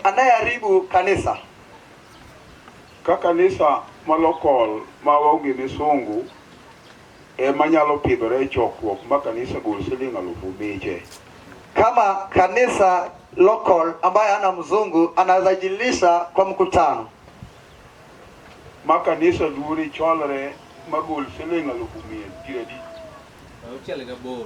Anayeharibu kanisa. Ka kanisa malokol ma onge misungu ema nyalo pidhore e chokruok ma kanisa gol siling alufu miche. Kama kanisa local ambaye ana mzungu anaweza jilisha kwa mkutano. Ma kanisa duori cholre magol siling alufu mia piero adi. Auchiel gaboro.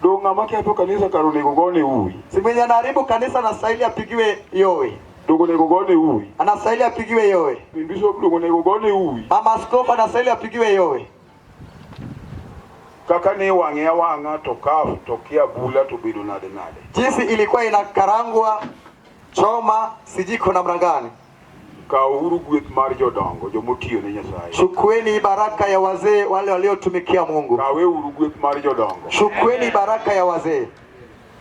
Ndio ng'ama ketho kanisa kar onego gone uwi. Si mwenye anaharibu kanisa anastahili apigiwe yowe. Ndugu onego gone uwi. Anastahili apigiwe yowe. Ni Bishop ndugu onego gone uwi. Mama askofu anastahili apigiwe yowe. Kaka ni wang'e awang'a to kaf to kia bula to bedo nade nade. Jinsi ilikuwa inakarangwa choma sijiko namna gani. Kaouru gweth mar jodongo, jo motiyo ne Nyasaye. Chukueni baraka ya wazee wale waliotumikia Mungu. Kaweuru gweth mar jodongo. Chukueni baraka ya wazee.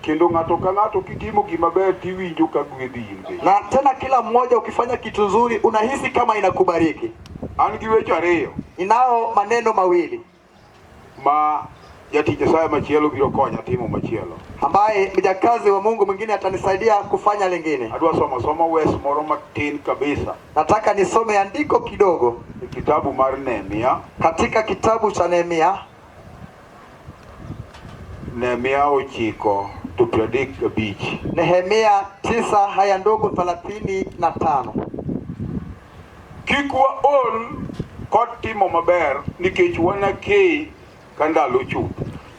Kendo ng'ato ka ng'ato kitimo gima ber tiwinjo ka gwedhi in be. Na tena kila mmoja ukifanya kitu nzuri unahisi kama inakubariki. An gi weche ariyo. Ninao maneno mawili. ma jatich Nyasaye machielo biro konya timo machielo. ambaye mjakazi wa Mungu mwingine atanisaidia kufanya lingine. Adwa somo somo wes moro matin kabisa Nataka nisome andiko kidogo e kitabu mar Nehemia. katika kitabu cha Nehemia Nehemia ochiko to piero adek gabich. Nehemia tisa haya ndogo thelathini na tano. Kik waol kod timo maber nikech wanakei ka ndalo chuth.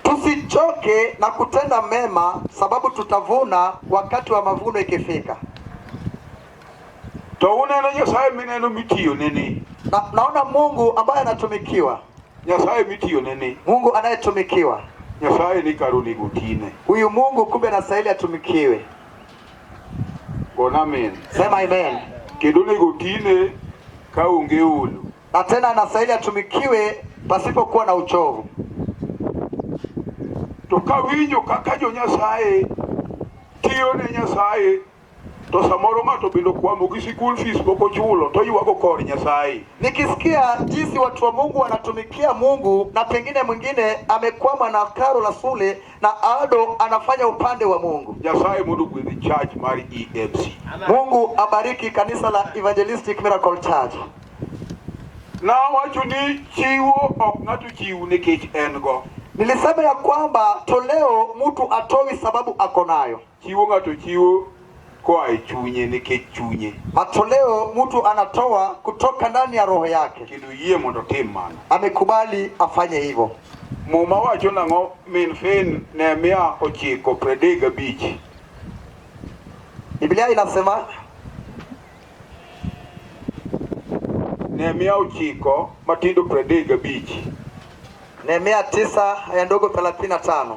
Tusichoke na kutenda mema sababu tutavuna wakati wa mavuno ikifika. To uneno Nyasaye mineno mitiyo nini? Na, naona Mungu ambaye anatumikiwa. Nyasaye mitiyo nini? Mungu anayetumikiwa. Nyasaye ni karuni gutine. Huyu Mungu kumbe anastahili atumikiwe. Gona amen. Sema amen. Kendo onego tine ka onge olo. Na tena anastahili atumikiwe pasipokuwa na uchovu. To kawinjo kaka jo Nyasaye tiyo ne Nyasaye to samoro ng'ato bende okwamo gi school fees pok ochulo to ywago kor Nyasaye. Nikisikia jinsi watu wa Mungu wanatumikia Mungu na pengine mwingine amekwama na karo la shule na Aldo anafanya upande wa Mungu. Nyasaye mundu gwedhi church mar EMC. Mungu abariki kanisa la Evangelistic Miracle Church. Na wacho ni chiwo ok ng'ato chiwu nikech en go. Nilisema ya kwamba toleo mtu atowi sababu ako nayo. Chiwo ng'ato chiwo koa e chunye nikech chunye. Matoleo mtu anatoa kutoka ndani ya roho yake. Kendo yie mondo tim mano. Amekubali afanye hivyo. Muma wacho nang'o min fin Nehemia ochiko pradek gabich. Biblia inasema Nehemia ochiko matindo pradek gabich. Nehemia tisa aya ndogo 35.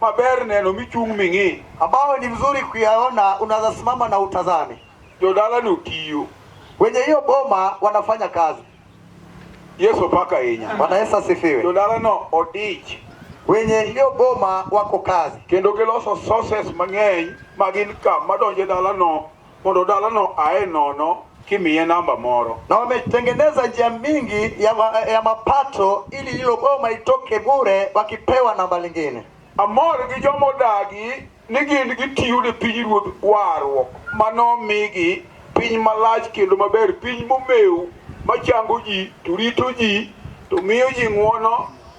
Maber neno michung' ming'i. Ambayo ni mzuri kuyaona, unaweza simama na utazame. Jodala ni utiyo. Wenye hiyo boma wanafanya kazi. Yesu paka inya. Bwana Yesu asifiwe. Jodala no odich. Wenye hiyo boma wako kazi. Kendo giloso sources mang'eny magin ka madonje dala no mondo dalano aye nono kimiye namba moro. Na wametengeneza njia mingi ya, ma, ya mapato ili hilo boma itoke bure wakipewa namba lingine. Amor gi joma odagi ni gin gitiyo ne pinyruodh warruok ma nomigi piny malach kendo maber, piny momew machango ji to rito ji to miyo ji ng'wono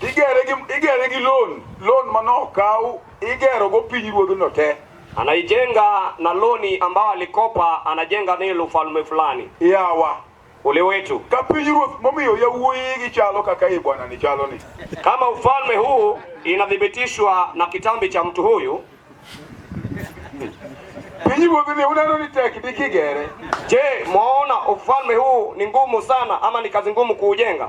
igere gi igere gi loan loan manokaw igero go piny ruodhno te anaijenga na loni ambao alikopa anajenga nilo ufalme fulani yawa ule wetu ka piny ruoth momiyo yawuoyi gi chalo kaka i bwana ni chalo ni kama ufalme huu inathibitishwa na kitambi cha mtu huyu piny ruoth ni uneno ni tek dikigere je mwaona ufalme huu ni ngumu sana ama ni kazi ngumu kuujenga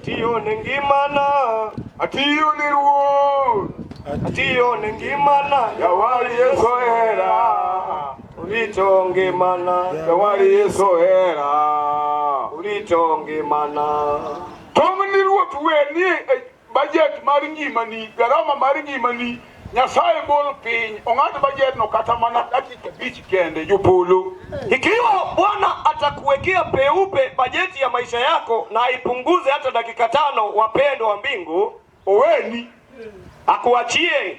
Atiyo ne ngimana, atiyo ne Ruoth, atiyo ne ngimana, jawar Yesu hera, orito ngimana, jawar Yesu hera, orito ngimana. Tong' ni Ruoth weni Bajet mar ngimani, garama mar ngimani, Nyasaye gol piny, ong'ad bajedno kata mana dakika abich kende, jopolo. Ikiwa Bwana atakuwekea peupe bajeti ya maisha yako na aipunguze hata dakika tano, wapendwa wa mbingu, oweni akuachie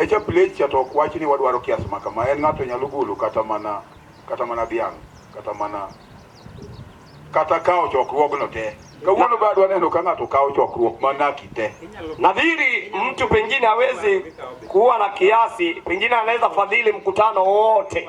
E cha plate cha to ok wach ni wadwaro kiasi ma kama. En ng'ato nyalo golo kata mana kata mana dhiang' kata mana kata kawo chokruogno te. Kawuono bado waneno ka ng'ato kawo chokruok mana kite. Nadhiri mtu pengine hawezi kuwa na kiasi, pengine anaweza fadhili mkutano wote.